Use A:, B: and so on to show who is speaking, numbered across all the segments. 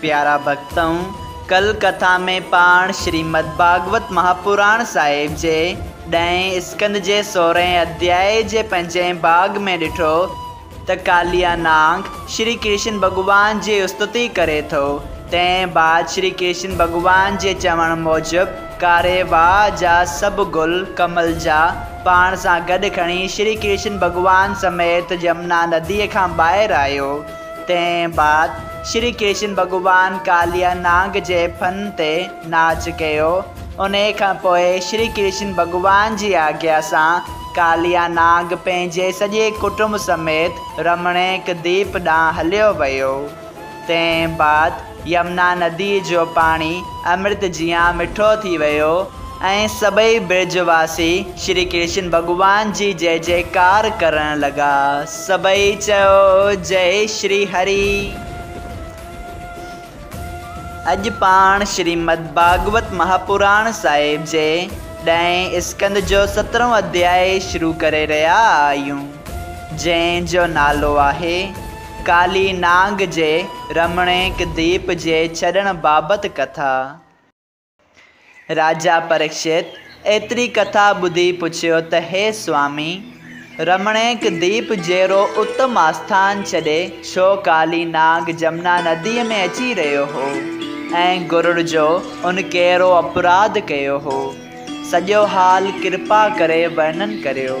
A: پيارا ڀڳتؤ! ڪل ڪٿا ۾ پاڻ شريمد ڀاڳوت مهاپراڻ صاحب جي ڏهين اسڪند جي سورهين اڌياء جي پنجين ڀاڳ ۾ ڏٺو ته ڪاليا نانگ شري ڪرشن ڀڳوان جي استتي ڪري ٿو. تنهن بعد شري ڪرشن ڀڳوان جي چوڻ موجب ڪاري واهه جا سڀ گل ڪمل جا پاڻ سان گڏ کڻي شري ڪرشن ڀڳوان سميت يمنا نديء کان ٻاهر آيو. تنهن بعد شري ڪشن ڀڳوان ڪاليا نانگ جي ڦن تي ناچ ڪيو. انهيء کان پوء شري ڪرشن ڀڳوان جي آگيا سان ڪاليا نانگ پنهنجي سڄي ڪٽنب سميت رمڻيڪ ديپ ڏانهن هليو ويو. تنهن بعد يمنا نديء جو پاڻي امرت جيان مٺو ٿي ويو ۽ سڀئي برج واسي شري ڪرشن ڀڳوان جي جئه جئڪار ڪرڻ لڳا. سڀئي چيو جئه شري هري. اڄ پاڻ شريمد ڀاڳوت مهاپراڻ صاحب جي ڏهين اسڪند جو سترهون اڌيائي شروع ڪري رهيا آهيون، جنهن جو نالو آهي. ڪالي نانگ جي رمڻيڪ ديپ جي ڇڏڻ بابت ڪٿا. راجا پريڪشت ايتري ڪٿا ٻڌي پڇيو ته هي سوامي! رمڻيڪ ديپ جهڙو اتم آسٿان ڇڏي ڇو ڪالي نانگ جمنا نديء ۾ اچي رهيو هو ۽ گرڙ جو ان ڪهڙو اپراڌ ڪيو هو؟ سڄو حال ڪرپا ڪري ورنن ڪريو.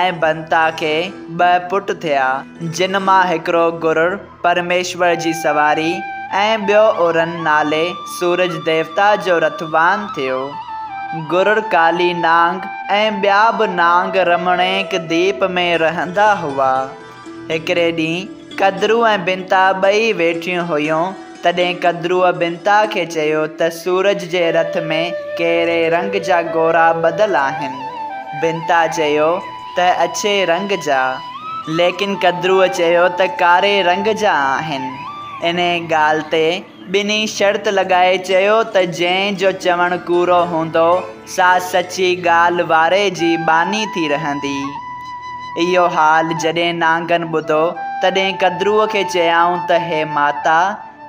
A: ۽ بنتا کي ٻه پٽ ٿيا، جن مان هڪڙو گرور پرميشور جي سواري ۽ ٻيو ارون نالي سورج ديوتا جو رٿوان ٿيو. گرور ڪالي نانگ ۽ ٻيا به نانگ رمڻيڪ ديپ ۾ رهندا هئا. هڪڙي ڏينهن قدرو ۽ بنتا ٻئي ويٺيون هيون، تڏهن قدرو بنتا کي چيو ته سورج جي رٿ ۾ ڪهڙي رنگ جا گورا ٻڌل آهن؟ بنتا چيو ته اڇي رنگ جا، ليڪن قدرو چيو ته ڪاري رنگ جا آهن. انهيء ڳالهه تي ٻنهي شرط لڳائي چيو ته جنهن جو چوڻ ڪوڙو هوندو سا سچي ڳالهه واري جي ٻانهي ٿي رهندي. اهو حال جڏهن نانگن ٻڌو تڏهن قدروء کي چيائون ته هي ماتا!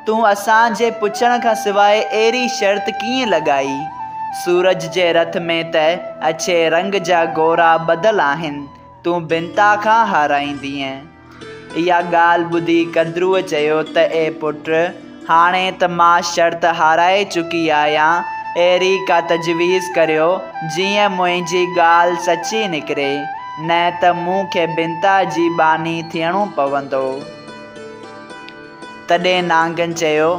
A: تون اسان جي پڇڻ کان سواء اهڙي شرط ڪيئن لڳائي؟ سورج جي رٿ ۾ ته اڇي رنگ جا گورا ٻڌل آهن، تون بنتا کان هارائيندينء. اها ڳالهه ٻڌي ڪدروء چيو ته اي پٽ! هاڻي ته مان شرط هارائي چڪي آهيان، اهڙي ڪا تجويز ڪريو، جيئن منهنجي ڳالهه سچي نڪري، نه ته مون کي بنتا جي ٻانهي ٿيڻو پوندو. تڏهن نانگن چيو،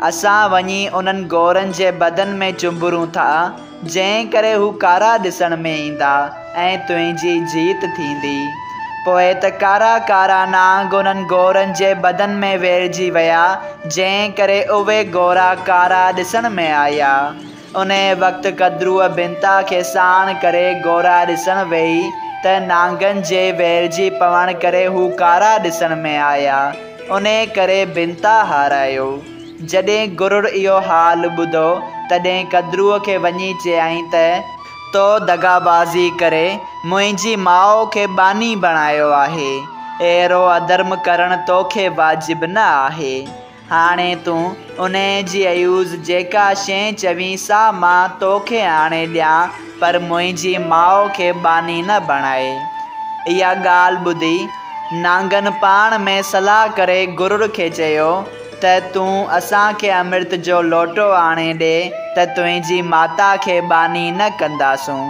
A: اسان وڃي انهن گورن جي بدن ۾ چنبرون ٿا، جنهن ڪري هو ڪارا ڏسڻ ۾ ايندا ۽ تنهنجي جيت ٿيندي. پوء ته ڪارا ڪارا نانگ انهن گورن جي بدن ۾ ويڙهجي ويا، جنهن ڪري اهي گورا ڪارا ڏسڻ ۾ آيا. انهيء وقت ڪدروء بنتا کي ساڻ ڪري گورا ڏسڻ ويئي ته نانگن جي ويڙهجي پوڻ ڪري هو ڪارا ڏسڻ ۾ آيا. انهيء ڪري بنتا هارايو. جڏهن گرڙ اهو حال ٻڌو، تڏهن قدرو کي وڃي چيائين ته، تو دغابازي ڪري منهنجي ماء کي ٻانهي بڻايو آهي، اهڙو اڌرم ڪرڻ توکي واجب نه آهي. هاڻي تون انهيء جي عيوض جيڪا شيء چوين سا مان توکي آڻي ڏيان، پر منهنجي ماء کي ٻانهي نه بڻاء. اها ڳالهه ٻڌي، نانگن پاڻ ۾ صلاح ڪري گرڙ کي چيو، ته تون اسان کي امرت جو لوٽو آڻي ڏي ته تنهنجي ماتا کي ٻانهي نه ڪنداسون.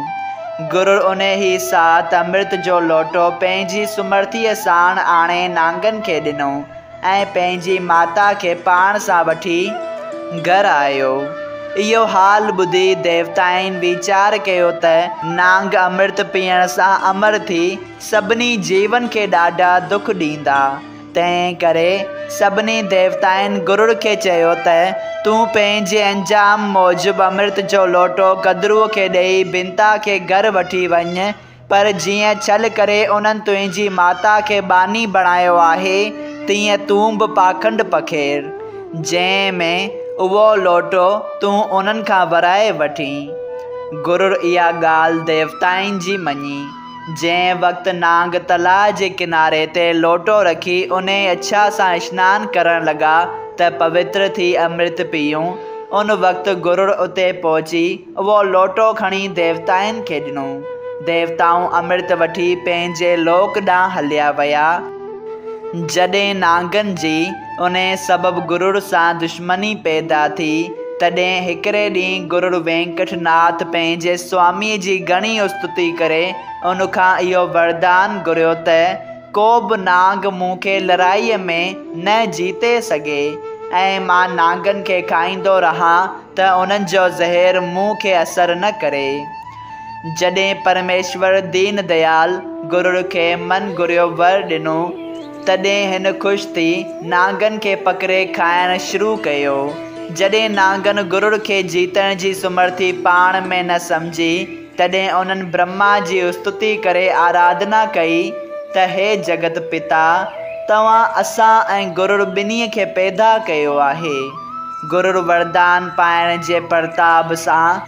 A: گرڙ انهيء ساعت امرت جو لوٽو پنهنجي سمرٿيء ساڻ آڻي نانگن کي ڏنو ۽ پنهنجي ماتا کي پاڻ سان وٺي گهر آيو. اهو حال ٻڌي ديوتائن ويچار ڪيو ته نانگ امرت پيئڻ سان امر ٿي سڀني جيون کي ڏاڍا دک ڏيندا. تنهن ڪري سڀني ديوتائن گرڙ کي چيو ته، تون پنهنجي انجام موجب امرت جو لوٽو گدروء کي ڏيئي بنتا کي گهر وٺي وڃ، پر جيئن ڇل ڪري انهن تنهنجي ماتا کي ٻانهي بڻايو آهي، تيئن تون به پاکنڊ پکيڙ، جنهن ۾ اهو لوٽو تون انهن کان ورائي وٺين. گرڙ اها ڳالهه ديوتائن جي مڃي. جنهن وقت نانگ تلاء جي ڪناري تي لوٽو رکي انهيء اڇا سان اشنان ڪرڻ لڳا ته پوتر ٿي امرت پيئون، ان وقت گرڙ اتي پهچي اهو لوٽو کڻي ديوتائن کي ڏنو. ديوتائون امرت وٺي پنهنجي لوڪ ڏانهن هليا ويا. جڏهن نانگن جي انهيء سبب گرڙ سان دشمني پيدا ٿي، تڏهن هڪڙي ڏينهن گرڙ وينڪٽ ناٿ پنهنجي سواميء جي گهڻي استتي ڪري ان کان اهو وردان گهريو ته، ڪو به نانگ مون کي لڙائيء ۾ نه جيتي سگهي ۽ مان نانگن کي کائيندو رهان ته انهن جو زهر مون کي اثر نه ڪري. جڏهن پرميشور دين ديال گرڙ کي من گهريو ور ڏنو، تڏهن هن خوش ٿي نانگن کي پڪڙي کائڻ شروع ڪيو. جڏهن نانگن گرڙ کي جيتڻ جي سمرٿي پاڻ ۾ نه سمجهي، تڏهن انهن برهما جي استتي ڪري آراڌنا ڪئي ته هي جڳت پتا! توهان اسان ۽ گرڙ ٻنهي کي پيدا ڪيو آهي. گرڙ وردان پائڻ جي پرتاب سان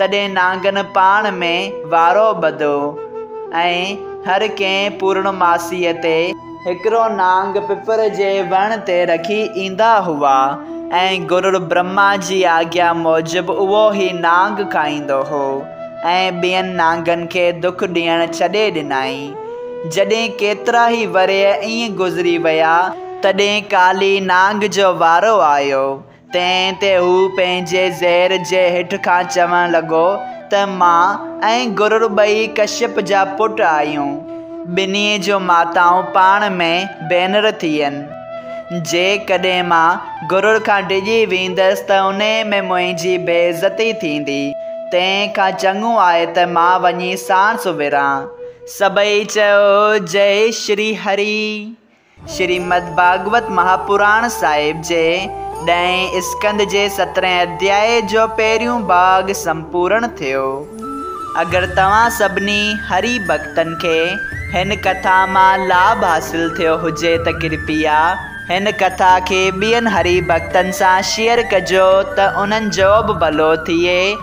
A: تڏهن نانگن پاڻ ۾ وارو ٻڌو ۽ هر ڪنهن پورڻماسيء تي هڪڙو نانگ پپر جي وڻ تي رکي ايندا هئا ۽ گرڙ برهما جي آگيا موجب اهو ئي نانگ کائيندو هو ۽ ٻين نانگن کي دک ڏيڻ ڇڏي ڏنائين. جڏهن ڪيترا ئي ورهيه ائين گذري ويا، تڏهن ڪالي نانگ جو وارو آيو تنهن تي هو پنهنجي زير جي هيٺ کان چوڻ لڳو ته مان ۽ گرور ٻئي ڪشيپ جا پٽ آهيون. ٻنهي جون ماتائون پاڻ ۾ ڀينر ٿين. جيڪڏهن مان گرور کان ڊڄي ويندس ته انهي ۾ منهنجي بي عزتي ٿيندي. تنهن کان چڱو آهي ته مان وڃي ساڻس وڙهان. سڀئي چيو، جئي شري هري! شريمد ڀاڳوت مهاپراڻ صاحب جي ڏهين اسڪند جي سترهين اڌياء جو پهريون ڀاڳ سمپورڻ ٿيو. اگر توهان سڀني هري ڀڳتن کي هن ڪٿا مان لاڀ حاصل ٿيو هجي ته ڪرپيا هن ڪٿا کي ٻين هري ڀڳتن سان شيئر ڪجو ته انهن جوبه ڀلو ٿئي.